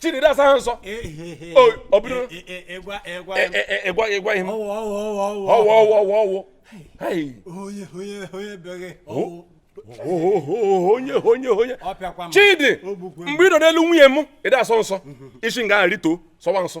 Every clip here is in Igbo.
chidi ị da-asọ nsọ ọbụrụ ịgwa ịgwa ihe m ọwụ ọwụ ọwụ ọwụ onye onye onye bịaghị ọwụ onye onye onye chidi mgbe ị nọ n'elu nwunye m ị da-asọ nsọ i si nga rịtuo sọwa nsọ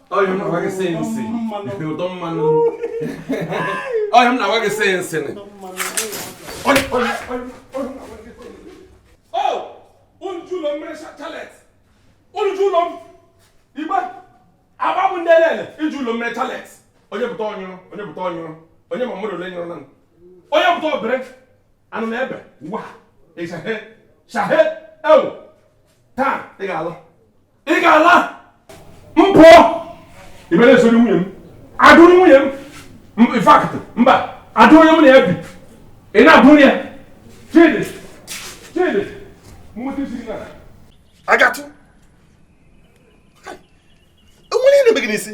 ọhịa m na-agwa gị sị nsị ụdọ mmanụ ọhịa m na-agwa gị sị unu ji ụlọ m mere chalet unu ji ụlọ m ebe agba bụ ndị elele unu ji ụlọ m mere chalet onye pụta ọnyụrụ onye pụta ọnyụrụ onye ma mmadụ ole nyụrụ na onye pụta o bere anụ na ebe wa ịshahe shahe ewu taa ị ga-alụ ị ga-ala mmụọ ị mere esoro nwunye m adụrụ nwunye m in fact mba adụ onye m na ya bi ị na-abụrụ ya chidi chidi mmụta isi na agatụ o nwere ihe na-eme gị n'isi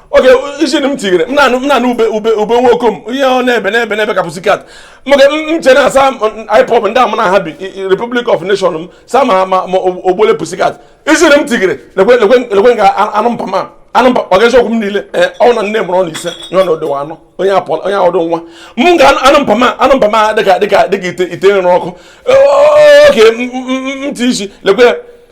oge isi m tinyere m na-anụ ube ube ube nwoke m ihe ọ na-ebe na-ebe na-ebe ka pussycat maka m chere na asa ipob ndị ama na ha bi republic of nation m sa ma ma ọ bụ ole pussycat isi m tinyere lekwe nga anụ mpa ma anụ mpa ọ ga-esi okwu m niile ee ọ na nne mụrụ ọnụ ise nye na odewa anọ onye apụ onye ọdụ nwa m ga anụ mpa ma anụ mpa ma dịka dịka dịka ite ite nrụ ọkụ oke ntị isi lekwe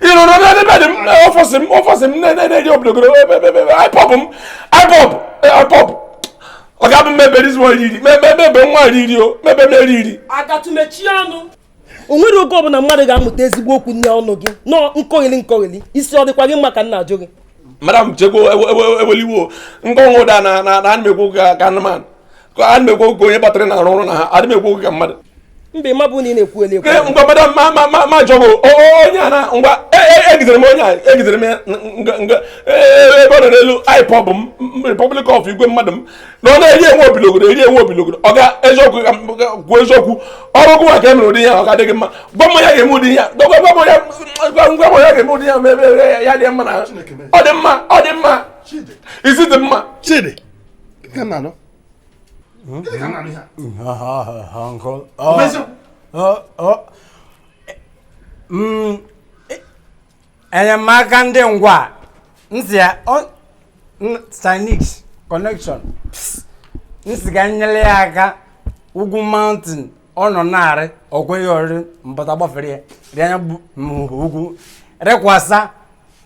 ị nọ n'elu bed m ọfọsị m ọfọsị m na-eri obodogoro ipob m ipob ipob ọ ga-abụ mmebe ezi nwa riri mebe nwa riri o mebe m eri iri agatụ mechie ọnụ o nwere oge ọbụla mmadụ ga-anụta ezigbo okwu n'ime ọnụ gị nọ nkogheli nkogheli isi ọ dịkwa gị mma ka m na-ajụ gị madam chekwa eweliwo nkọnwụ ụda na na anụmekwu ka anụmanụ a na-ekwu oge onye batara na arụ ọrụ na ha adị m ekwu oge ka mmadụ mbe ma bụ na ị na-ekwu ele ekwu ngwa madam ma ma ma ma jọbụ onye a na ngwa egidere e, e m onye a egidere m ya nga e, ebe ọ nọ n'elu ipob m republic of igwe mmadụ m na ọ na-eri enwe obilogodo eri enwe obilogodo ọ ga eziokwu ka kwuo eziokwu ọrụ gụwa ka e mere ụdị ya ọ ga-adịghị mma gwa m ya ga-eme ụdị ya gwa m ya ga-eme ụdị ya ma ebe ya dị mma na ọ dị mma ọ dị mma isi dị mma chidi Mm, e, enyemaka ndị ngwa na-asị ya sinix connection m sị ka m nyere ya aka ugwu mountain ọ nọ na-arị o kweghị ya ọrịrị mbata gbafere ya dị anya ugwu rịkwasa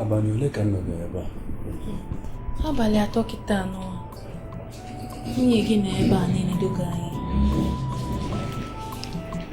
abalị ole ka m nọ ebe a abalị atọ kịta nwunye gị nọ ebe a na-enedoga anyị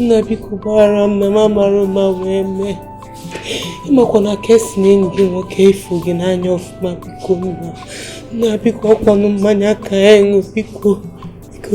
nna biko gbaghara m na m amarọ ụma wee mee ị makwa na ka e si na enyi gị nwoke ịfụ gị n'anya ọfụma biko nna nna biko ọ kwanụ mmanya ka ya ṅụ biko biko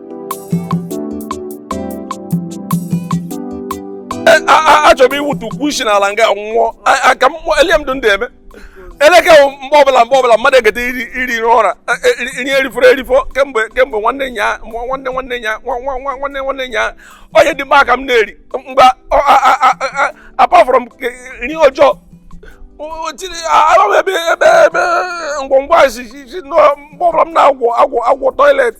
e, achọrọ m iwutu ukwu isi n'ala nga nwụọ ka e lie m ndụ ndị eme eleke mgbe ọbụla mgbe ọbụla mmadụ egede iri iri ụra e, e, iri erifọrọ erifọ kemgbe kemgbe nwanne nya nwanne nwanne nya nwanne nwanne nya onye dị mma ka m na-eri mgbe apart from nri ọjọọ ebe ebe ebe ngwongwo a si si mgbe ọbụla m na-agwọ agwọ agwọ toilet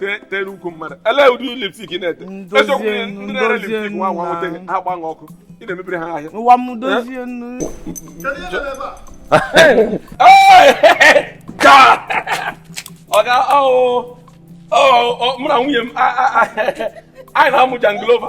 te- tere ukwu mmadụ elee ụdị lipstik ị na-ete Ndozie eziokwu ihe nnu, ndị na-ere ndozie lipstik nwa nwa nnu nweta na- ha gba ọkụ ị na-emebiri ha ahịa ụwa m dozie nnu ọga mụ na nwunye m a- a- a- anyị na-amụ janglova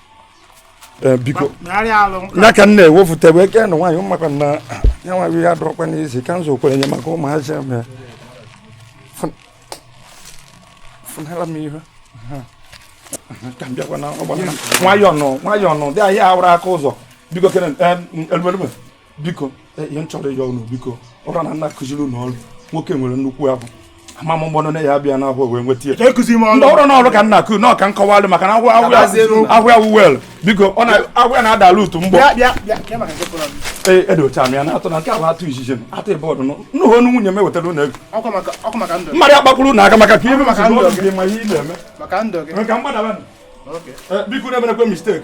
Eh, biko ya ka m na-ewefụta ebe eke na nwaanyị maka na ya nwa ya dọrọkwa n'isi ka m zokwere nye maka ụmụazị m ya fụnara m ihe ka m bịakwa na ọgbara nwayọọ nụ nwayọọ nụ dị ahịa awụrụ aka ụzọ biko kere eh, biko e, ihe m chọrọ ịyọ unu biko ọrụ na nna akụziri unu ọrụ nwoke nwere nnukwu ahụ ama m mgbọnụ ya abịa na ahụ wee nweta ya ndị ọrụ n'ọrụ ka nna akụ nọọ ka m kọwalụ maka na ahụ ya wuwel biko ọ na ahụ ya na-ada ala utu mgbọ ee edocha m ya na atụ na nke ahụ atụ izizi m atụ ebe ọdụ nnụhụ onu nwunye m ewetara ụlọ ego mmadụ akpakwuru na aka maka ka ihe ma ihe ị na-eme ka mgbadaba biko na-emerekwe mistake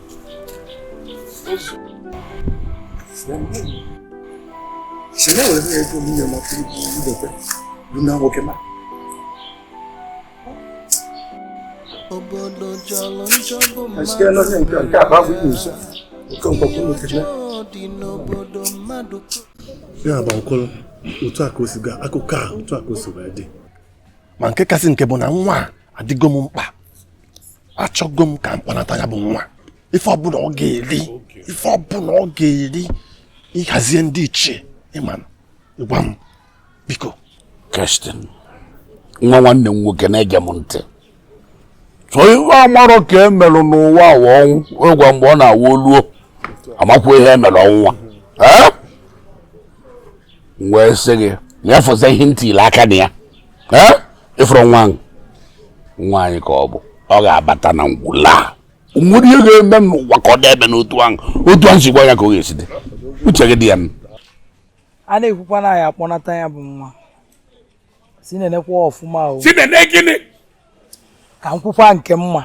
Sị na wee na ego nwunye m ọkụ idote bụ na nwoke ma. Asike nọ nye nke nke akpa bụ nso nke mkpọkụ nwoke na. Ya bụ ọkụlụ otu a ka o si gaa akụkọ a otu a ka o si wee dị. Ma nke kasị nke bụ na nwa a adịgo m mkpa achọgo m ka m kpọnata ya bụ nwa ife ọbụna ọ ga-eri ife ọbụna ọ ga-eri ịhazie ndị ichie ịma ịgwa m biko kestin nwa nwanne m nwoke na-ege m ntị sọ ife amarọ ka e melu n'ụwa a wụ ọnwụ ịgwa mgbe ọ na-awụ oluo amakwa ihe e mere ọnwụ ụwa wee sị gị nyefụzi ihe ntị ile aka na ya ee ị fụrụ nwa ahụ nwa anyị ka ọ bụ ọ ga-abata na ngwulu a nwere ihe ga-eme n'ụwa ka ọ dị ebe n'otu ahụ otu ahụ si gwa ya ka ọ ga-esi dị uche gị dị ya a na-ekwukwa na ya akpọnata ya bụ nwa si na-enekwa ọfụma o si na-ene gịnị ka m kwukwa nke mma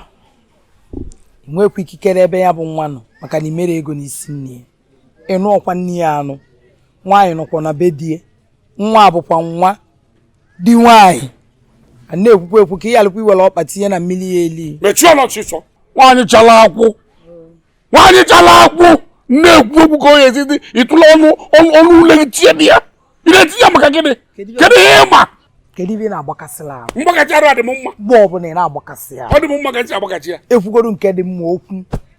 nwekwa ikikere ebe ya bụ nwa nọ maka na i mere ego n'isi nne ya ị nụọkwa nne ya a nụ nwaanyị nọkwa na be di ya nwa bụkwa nwa di nwaanyị a na-ekwukwa ekwu ka ihe alụkwa iwere ọkpa tinye na mmiri ya eli mechie ọnụ ọchịchọ nwaanyị chala akwụ nwaanyị chala akwụ na-ekwu okwu ka onye ezidi ịtụla ọnụ ọnụ ule gị tie dị ya ị na-etinye maka gịnị kedu ihe ị ma kedu ife ị na-agbakasịla ahụ mgbakasị arụ adị m mma mgbe ọbụla ị na-agbakasị ya ọ dị m mma ka ntị agbakachi ya ekwugoro nke dị mma okwu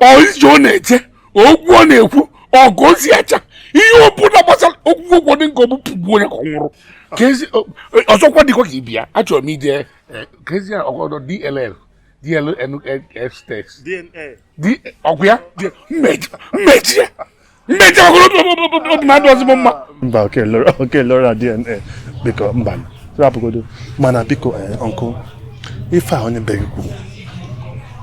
ije ọ na-eje okwu ọ na-ekwu ọgụ ozi acha ihe ọ bụla gbasara okwu ụgwọ dị nke ọbụ pụgbu onye ka ọ nwụrụ ọzọkwa dịkwa ka ibia achọrọ m ije eh, kezi ọgọdọ dll dlnfstex ọgwụ ya mmeji ya mmechi ọgụrụ obi m adịrọzị mma mba oke lora dna biko mba rapụgodo mana biko ọnkụ eh, ife a onye be gị kwuru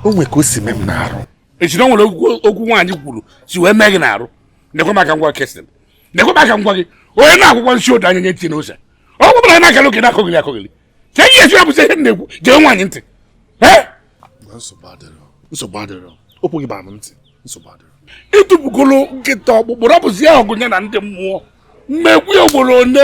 o nwe ka o si mee m n'arụ ị sị o nwere okwu nwaanyị kwuru si wee mee gị n'arụ nekwa m ka m gwa kestin nekwa m ka m gwa gị onye na-akwụkwọ nsi odo anya nye tinye n'ose ọ gwụbara na-akara oke na-akọgịrị akọgịrị ka ihe esi abụzi ihe na-ekwu gee nwaanyị ntị nsogbu adịrọ okwu gị bara m ntị nsogbu adịrọ ị tụpụgolu nkịta ọkpụkpụ rapụzi ya ọgụ ya na ndị mmụọ m ekwu ya ugboro one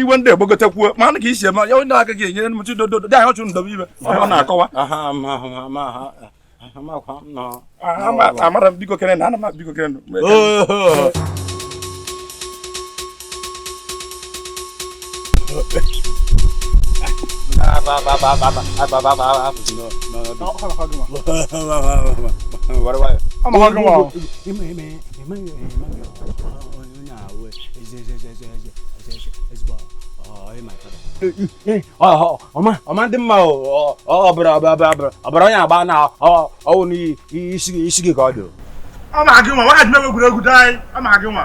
iwe ndị egbogotekwuo ma anụ ka isi eme ya onye aka ga-enyere m chi dododo dị anyị ọchụ ndọba ibe ọ na-akọwa amara m biko kere na ana m biko kere ọma ndị mma ọbara onye agbana ọwụ n'isi gị ka ọ dị ọ ma gị nwa nwaanyị na-egwuregwu dị anyị ọ ma gị nwa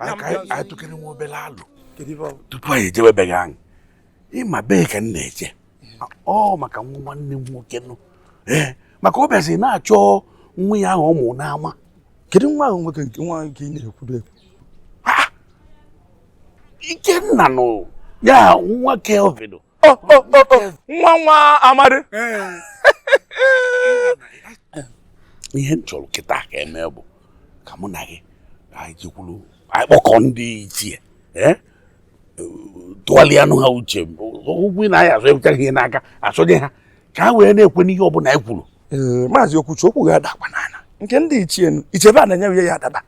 anyị tụkere nwa obere alo tupu anyị ejewe ebe ahụ anyị ị ma bee ka m na-eje ọ maka nwa nwanne m nwoke nụ ee maka ọ bịazi na-achọ nwa ya ahụ ọ mụ n'ama kedu nwa ahụ nwoke nke nwa nke ị na-ekwuru ekwu Ikenna nụ ya nwa Kevin Oh, oh, oh, oh. nwa nwa Amadị ihe m chọrọ kịta ka e mee bụ ka mụ na gị anyị jekwuru anyị kpọkọ ndị ichie eh? tụgharịanụ ha uche ụgwụ na anyị azụ ewuchara ihe n'aka asọnye ha ka ha wee na-ekwe n'ihe ọbụla anyị kwuru maazị Okwuchi okwu ga-adakwa n'ala nke ndị ichie ichebe a na-enye ya ya adaba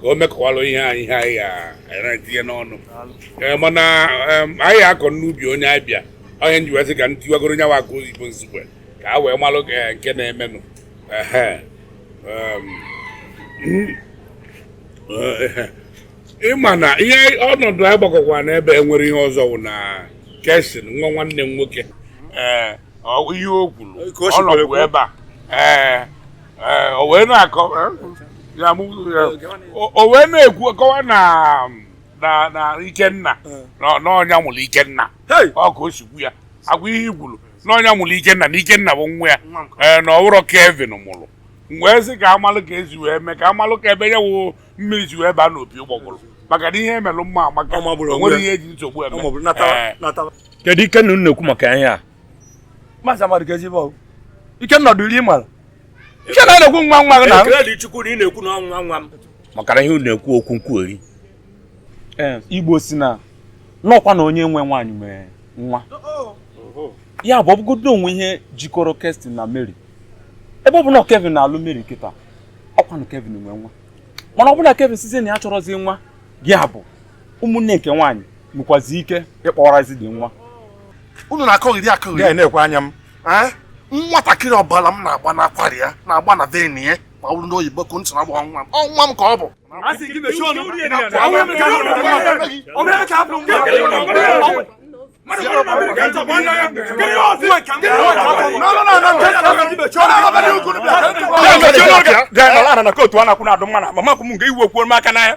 ka o mekwalụ ihe anyị ihe anyị ga-etinye n'ọnụ eh, mana anyị akọ n'ubi onye abịa ọ ihe m ji wee sị ka m tiwagoro nya wụ akụ oyibo Nsugbe ka a wee malụ eh, nke na-emenụ eh, ị ma na ihe ọnọdụ anyị gbakọkwa n'ebe e nwere ihe ọzọ wụ na Kesin nwa nwanne m nwoke ihe o kwuru ọ nọkwu ebe a ee ee o wee na-akọ ya mụ ya o wee na-ekwu kọwa na na na ikenna na na ọ nya mụrụ ikenna Hey! ọ ka o si kwu ya agwa ihe i kwuru na ọ nya mụrụ ikenna na ikenna bụ nwa ya Nwa nke ee na ọ wụrọ Kevin mụrụ m wee sị ka a malụ ka e si wee mee ka a malụ ka ebe ya wụ mmiri si wee baa n'opi ụgbọgụrụ maka na ihe e melụ mma amaka Ọ magburu o onwe nwere ya. ihe e ji nsogbu eme Ọ magburu, nataba, Ee. nataba. kedu ikenna unu na-ekwu maka ihe a maazị Amadị keezi bụ Ikenna ọdọ iri mara Ikenna a na-ekwu nwa nwa gị na ekele dị chukwu na ị na-ekwu na ọ nwa nwa m maka na ihe unu na-ekwu okwu nkwugheri Igbo sị na n'ọkwa na onye nwe nwaanyị nwe nwa ya bụ ọ bụgodu o nwee ihe jikọrọ Kestin na Mary ebe ọ bụ na Kevin na-alụ Mary kịta ọkwanụ Kevin nwe nwa mana ọ bụlụ na Kevin sịzie na ya achọrọzi nwa ga-abụ ụmụnne nke nwaanyị nwekwazi ike ịkpọrọzi dị nwa unu na-akọgheri akọgheri ya nekwe anya m nwatakịrị ọbara m na-agba n'akwara ya na-agba na vein ya ma ọ bụrụ na oyibo ka ntị na-agba nwa m ọ nwa m ka ọ bụ na kootu a na-akwụ na-adụ mma na mama kwụ m nke iwu okwu aka n'anya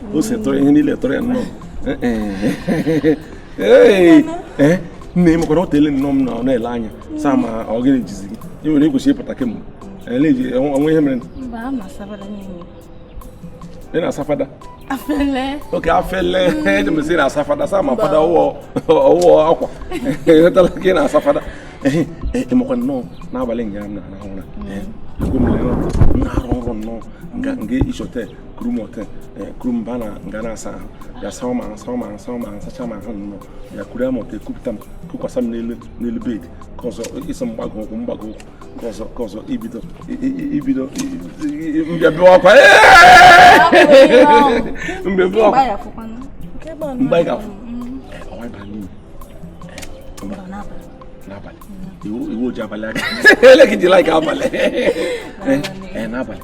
o si tụrụ ihe niile tụrụ ya nnọọ nne m kwara ọ tele nnọọ m na ọ na-ele anya saa ma ọ gịnị jizi gị ị nwere ịkwụsị ịpụta kemgbe eleji ọnwa ihe mere ị na-asa fada oke afele eji m sị na-asa fada saa ma fada ọwụọ akwa ịghọtala ka ị na-asa fada ịmakwa nnọọ n'abalị nga m na-arahụ ụra ebe m na-arọ nrọ nnọọ nga isote kuru m ote eh, kuru m ba na nga a na-asa ahụ ya saa m asaa m asaa m asachaa m ahụ nnọọ ya kuru ya ma ote kupụta m kukwasa m n'elu n'elu bed ka ọzọ ịsọ mgbago ụkwụ mgbago ụkwụ ka ọzọ ka ọzọ ibido ibido mbịa bịa ọkwa mbịa bịa ọkwa mgbe anyị ga-afụ ọwa ịba n'iyi n'abalị iwu oji abalị aka ele gị ji laik abalị n'abalị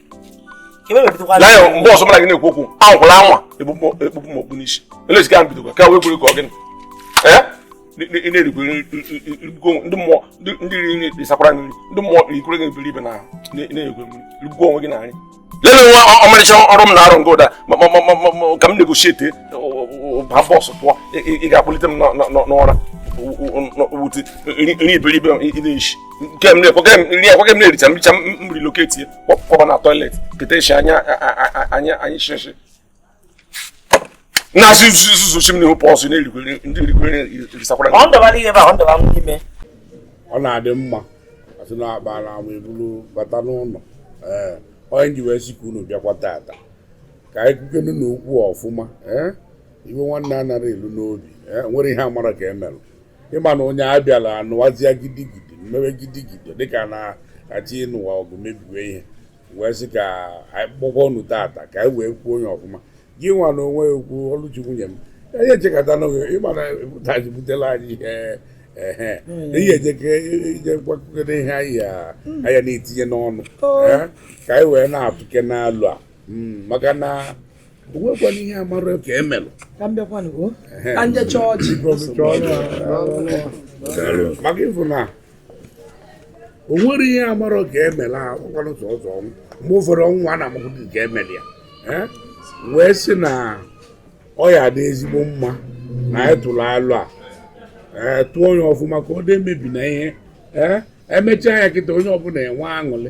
laya mgbe ọzọ mụ la gị na-ekwu okwu anwakwala anwa ekpukpu m okpu n'isi elezika m bidokwa ka wee kwere ka ọ gịnị ị na-erikwe ndị mmụọ ndị riri nri dịsakwara nri ndị mmụọ rikwere gị iberibe na na-egwe mmiri rigbuo onwe gị na nri lelee nwa ọmarịcha nrọ m na-arọ nga ụda ka m negotiate ba bọsụ pụọ ị ga-akpọlite m n'ụra wute nri iberibe ị na-eshi nke m na-ekwe nri ekwe m na-ericha mricha m relocate ya kpọba na toilet keta eshi anya anya anyị shịshị na-asị zuzuchi m n'ihu pọsụ na-erikwere ndị erikwere erisakwara ọ ndọbara ihe ba ọ ndọba m n'ime ọ na-adị mma a sị na akpaa n'ama e buru bata n'ụlọ ee ọ ya m ji wee sị ka unu bịakwa tata ka anyị kwukenu na okwu ọfụma ee iwe nwanne anaghị elu n'obi nwere ihe amara ka e mere ịma na onye abịala anụwazia gidigidi mmewe gidigidi dịka a na-achọ ịnụwa ọgụ mebiwe ihe wee sị ka anyị kpọkọọ ọnụ tata ka anyị wee kwuo onye ọfụma gị nwa na onwe ya okwu ọlụchi nwunye m ihe echekata n'oge ịma na ụtaji butela anyị ihe ehe ihe ejeke ije mkpakọrịta ihe anyị ya anyị ya na-etinye n'ọnụ eh, ka anyị wee na-atụkene alo a Mm, maka na o nwekwana ihe amarọ ka e mere ka m bịakwanụ o ka ndị chọọchị maka ịfụ na o nwere ihe amarọ ka e mere a ọkwanụ sọ ọzọ ọnwụ mgbe ụfọdụ ọnwụ a na-amakwụdị ka e mere ya Eh? wee sị na ọ ya-adị ezigbo mma na anyị tụrụ alo a ee tụọ ya ọfụma ka ọ dị emebina ihe ee emechaa ya kịta onye ọbụla enwee aṅụrị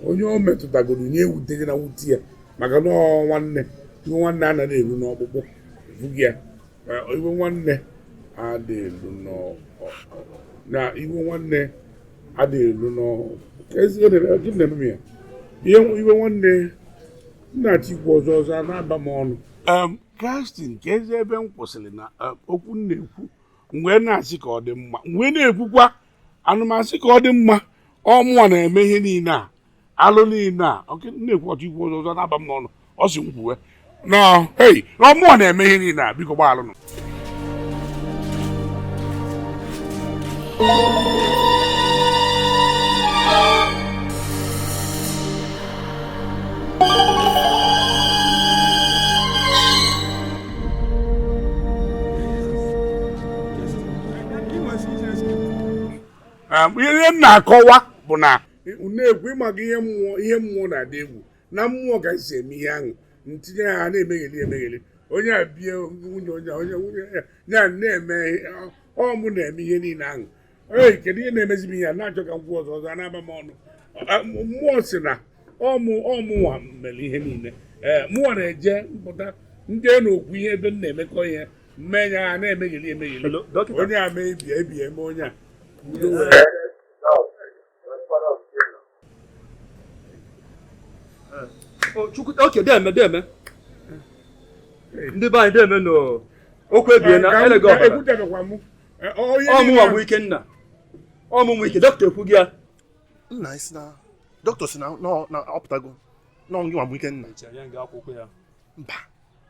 onye o metụtagoro nye ewuteghị na wute ya maka na nwanne iwe nwanne anaghị eru n'ọkpụkpụ bụghị ya iwe nwanne adị elu na iwe nwanne adị elu n'ọkpụkpụ ihe iwe nwanne m na-achọ ikwu ọzọ ọzọ a na-aba m ọnụ Kristin keezi ebe m kwụsịrị na okwu m na-ekwu mgbe na-asị ka ọ dị mma mgbe na-ekwukwa anụmasị ka ọ dị mma ọ mụwa na-eme ihe niile a alụ niile a na-ekwu ọtụ ikwu ọzọ na-aba m n'ọnụ ọ si m kwuwe na ọ mụwa na-eme ihe niile a biko gbaalụ nụ ihe m na-akọwa bụ na na-ekwu ịmaga ihe mmụọ ihe mmụọ na-adị egwu na mmụọ gaghịzi eme ihe ahụ ntinye ha na-emegheli emegheli onye a bie nwunye onye onye nwunye ya ya na-eme ọ mụ na-eme ihe niile ahụ ee kedu ihe na-emezi m ihe a na-achọ ka m kwuo ọzọ ọzọ na-aba m ọnụ A- m- mmụọ si na ọ mụ ọ mụnwa mere ihe niile ee mụnwa na-eje mpụta ndị a na-ekwu ihe ebe m na-emekọ ihe mmenya ha na-emegheli emegheli Hello, dọkịta. onye a mee ebie ebie eme onye a Yes. oke deme deme ndị be anyị deme na okwu ebie na elega ọ mụwa bụ Ikenna ọmụmụ ike dọkịta ekwu gị ya nna isi na dọkịta si na ọ pụtago n'ọnwụ gịnwa bụ Ikenna mba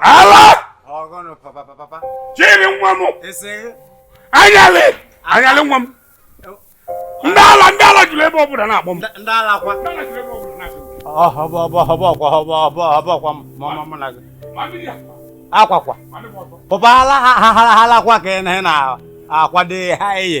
ala chiri nwa m anyalị anyalị nwa m ndị ala ndị ala julu ebe ọ bụla na-akpọ m ndị ala kwa akwakwa pụba ala ha halakwa ka ị na-akwado ha eye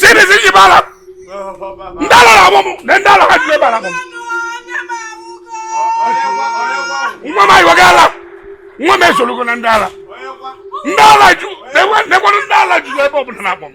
sibisi ji bara ndị ala na-akpọ mụ nee ndị ala ka julu ebe a mọ nwa ma iwọ gala nwa m esolugo na ndị ala ndị ala ju nekwanụ ndị ala ju ebe ọ bụla na-akpọ m